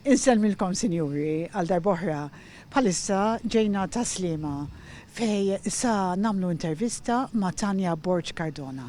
Insellmilkom sinjuri għal darb'oħra. Bħalissa ġejna ta' Sliema fej sa nagħmlu intervista ma' Tania Borg Cardona.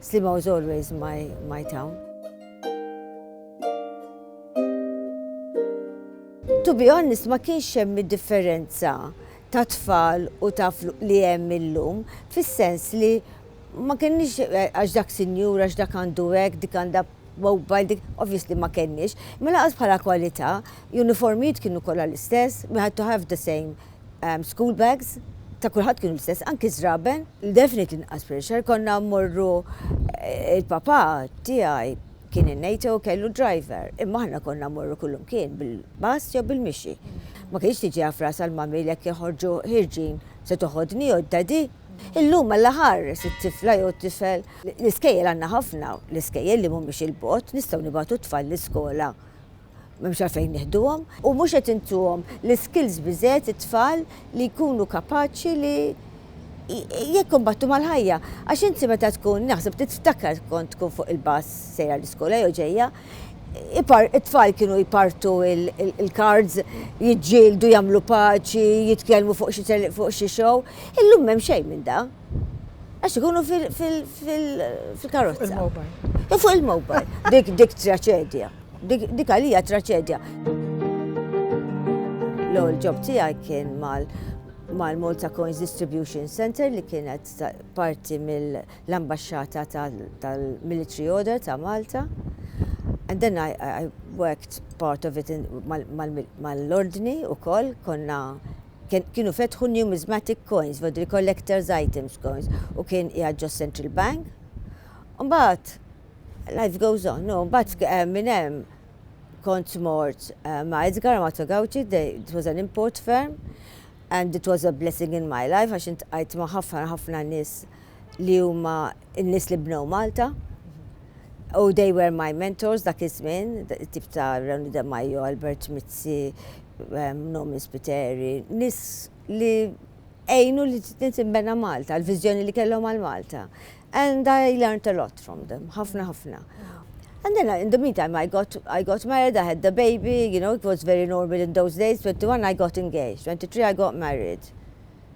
Slima was always my my town. To be honest ma kienx hemm id-differenza ta' tfal u ta' li hemm illum fis-sens li ma kenniex eh, għax dak sinjur, għax dak għandu hekk, dik għandha mobile, dik obviously ma kenniex, ma laqas bħala kwalità, uniformijiet kienu kollha l-istess, we had to have the same School bags ta' kulħadd kienu l-istess, anki ż-żraben. Definitely inqas pressure, konna mmorru eh, il-papà tiegħi kien in-NATO kellu driver, imma aħna konna mmorru kullum kien bil-bass jew bil-mixi. Ma kienx tiġi għaf ras għal-mammi l joħorġu ħirġin se toħodni jew d-dadi. Illum għalla ħares it-tifla jew tifel. L-iskejjel għandna ħafna, l-iskejjel li mhumiex il-bot, nistgħu nibatu tfal l-iskola M'hemmx għalfejn nieħduhom. U mhux qed intuhom l-iskills biżżejjed it-tfal li jkunu kapaċi li jikkumbattu mal-ħajja. Għax inti meta tkun, naħseb tiftakar kont tkun fuq il-bus sejra l-iskola jew ġejja, it-tfal kienu jpartu l-cards, jiġġieldu, jagħmlu paċi, jitkellmu fuq xi show. Illum m'hemm xejn minn dan. Għax ikunu fil-karozza. Fuq il-mobile. Dik dik traċedja. Dik għalija traċedja. L-ewwel ġob tiegħi kien mal mal-Malta Coins Distribution Center li kienet parti mill-ambasċata tal-Military Order ta' Malta. And then I, I worked part of it mal-ordni u koll, konna kienu fetħu numismatic coins, vodri collectors items coins, u kien qiegħed ġo Central Bank. Mbagħad life goes on, no, mbagħad eh, minn hemm kont mort eh, ma' Edgar Amato Gauci, it was an import firm, and it was a blessing in my life, għax intqajt ma' ħafna ħafna nies li huma n-nies li bnew Malta u they were my mentors dak iż-żmien, tip ta' Rewni De Majo, Albert Mizzi, ehm, Nomi Spiteri, nies li għejnu li tinsimbena Malta, l-viżjoni li kellhom għal Malta. And I learned a lot from them, ħafna ħafna. And then in the meantime I got I got married, I had the baby, you know, it was very normal in those days, 21 I got engaged, 23 I got married.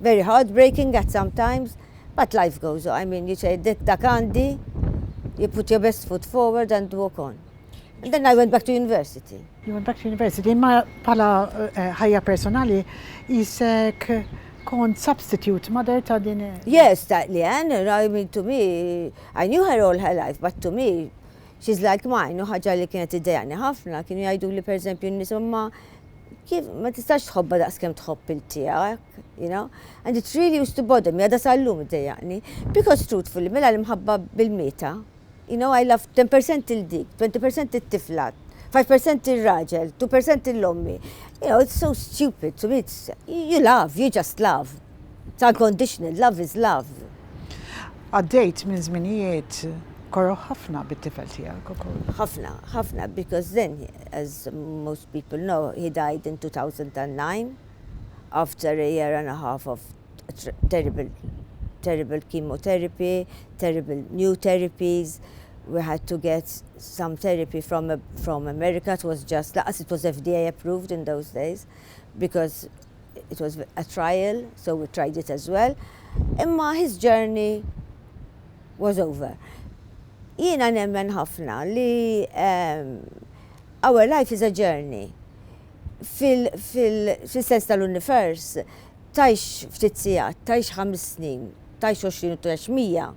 Very heartbreaking at some times, but life goes on, I mean you say dik dak għandi, you put your best foot forward and walk on. And then I went back to university. You went back to university, imma bħala ħajja personali qisek kont substitute mother ta' din. Yes, ta' li għan, I mean to me, I knew her all her life, but to me, she's like mine, u ħagġa li kienet id-dejani ħafna, kienu jgħidu li per eżempju n-nis umma kif ma tistax tħobba daqs kemm tħobb il tiegħek, you know? And it really used to bother me, għada sal-lum iddejjaqni. Because truthfully, mela l-imħabba bil-mita, you know, I love 10% il-dik, 20% il-tifla, 5% il-raġel, 2% il-lommi. You know, it's so stupid to me, it's, you love, you just love. It's unconditional, love is love. Għaddejt minn żminijiet koroh ħafna bit-tifel tiegħek ukoll. Ħafna, ħafna, because then, as most people know, he died in 2009 after a year and a half of terrible, terrible chemotherapy, terrible new therapies, we had to get some therapy from, from America, it was just, laqas it was FDA approved in those days, because it was a trial, so we tried it as well, imma his journey was over. Jiena nemmen ħafna li um, our life is a journey. Fil-sens tal-univers, tajx ftit sijat, tajx ħames snin, tajx 20 u tajx mija.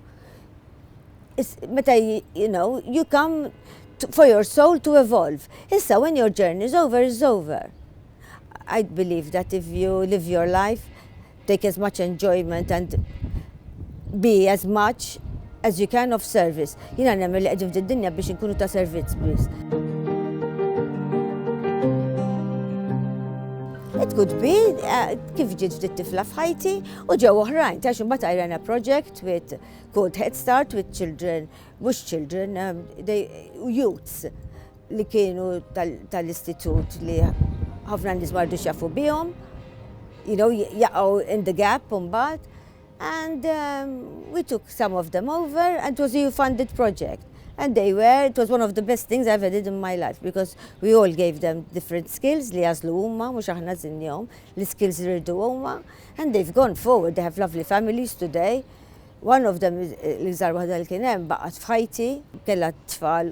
Meta, you know, you come for your soul to evolve. Issa, when your journey is over, is over. I believe that if you live your life, take as much enjoyment and be as much as you can of service. Jina nemmen li għedin f'din dinja biex nkunu ta' servizz biss. It could be uh, kif ġiet ftit tifla f'ħajti u ġew oħrajn. Tax imbagħad I ran a project with called Head Start with children, mhux children, um, they, youths li kienu tal-istitut li ħafna nies mardu xafu bihom, you know, jaqgħu in the gap mbagħad. And um, we took some of them over and it was a funded project. And they were, it was one of the best things I ever did in my life because we all gave them different skills li jazlu huma, mhux aħna żinjhom, li skills li rridu huma. And they've gone forward, they have lovely families today. One of them, eh, l-iżar waħda li kien hemm baqgħet f'ħajti, kellha tfal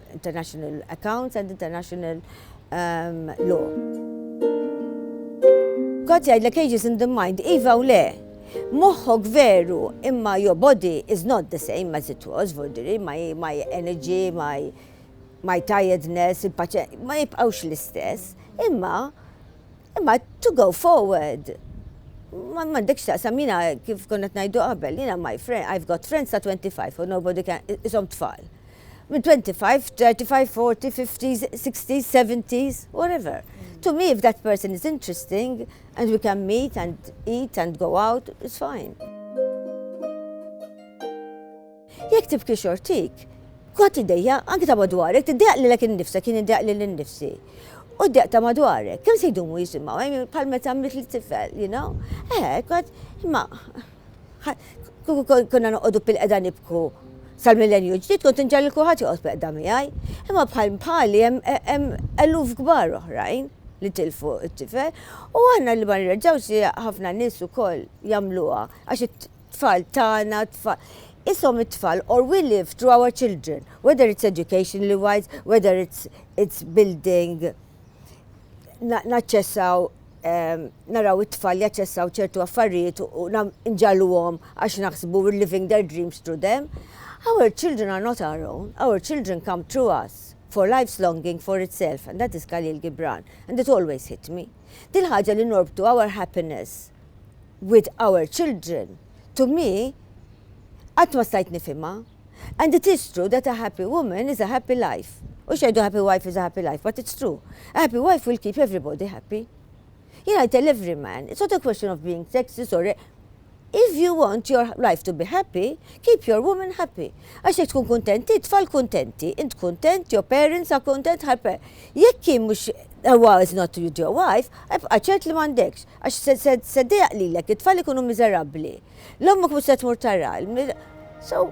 international accounts and international um, law. Kot jgħidlek ages in the mind, iva u le, moħħok veru imma your body is not the same as it was, vurdiri, my, my energy, my, my tiredness, il-paċe, ma jibqawx l-istess, imma imma to go forward. Ma mandekx taqsam jina kif konnet najdu qabel, jina my friend, I've got friends ta' 25 or nobody can, isom tfal. Minn 25, 35, 40, 50s, 60s, 70s, whatever. To me, if that person is interesting and we can meet and eat and go out, it's fine. Jek tibki xortik, kwa t-dejja, anki ta' madwarek, t-dejja li l-ek nifsa, kien id-dejja li l-nifsi. U d-dejja ta' madwarek, kem se jdumu jisimaw, eh, pal-meta mit li tifel, you know? Eh, kwa, ma, Kieku konna noqogħdu pil-qeda nibku sal-millenju ġdid kont inġal li kulħadd joqgħod pil-qeda miegħi. Imma bħal bħali hemm eluf kbar oħrajn li tilfu t-tifel u aħna li ma nirreġgħux li ħafna nies ukoll jagħmluha għax it-tfal tagħna tfal. Isom it-tfal or we live through our children, whether it's educationally wise, whether it's, it's building naċċessaw naraw it-tfal jaċċessaw ċertu affarijiet u nġalluhom għax naħsbu we're living their dreams through them. Our children are not our own, our children come through us for life's longing for itself, and that is Khalil Gibran, and it always hit me. Din ħaġa li norbtu our happiness with our children, to me, għat ma stajt nifima. And it is true that a happy woman is a happy life. Hux jgħidu a happy wife is a happy life, but it's true. A happy wife will keep everybody happy. Jiena I tell every man, it's not a question of being sexist or If you want your life to be happy, keep your woman happy. Għax jekk tkun kuntent, tfal kuntenti, int kuntent, your parents are content, ħarpe. Jekk kien mhux Ewa is not with your wife, ebqa ċert li mandekx, għax seddejaq lilek, it-tfal ikunu miżerabbli. L-ommok mhux se tmur tara. So,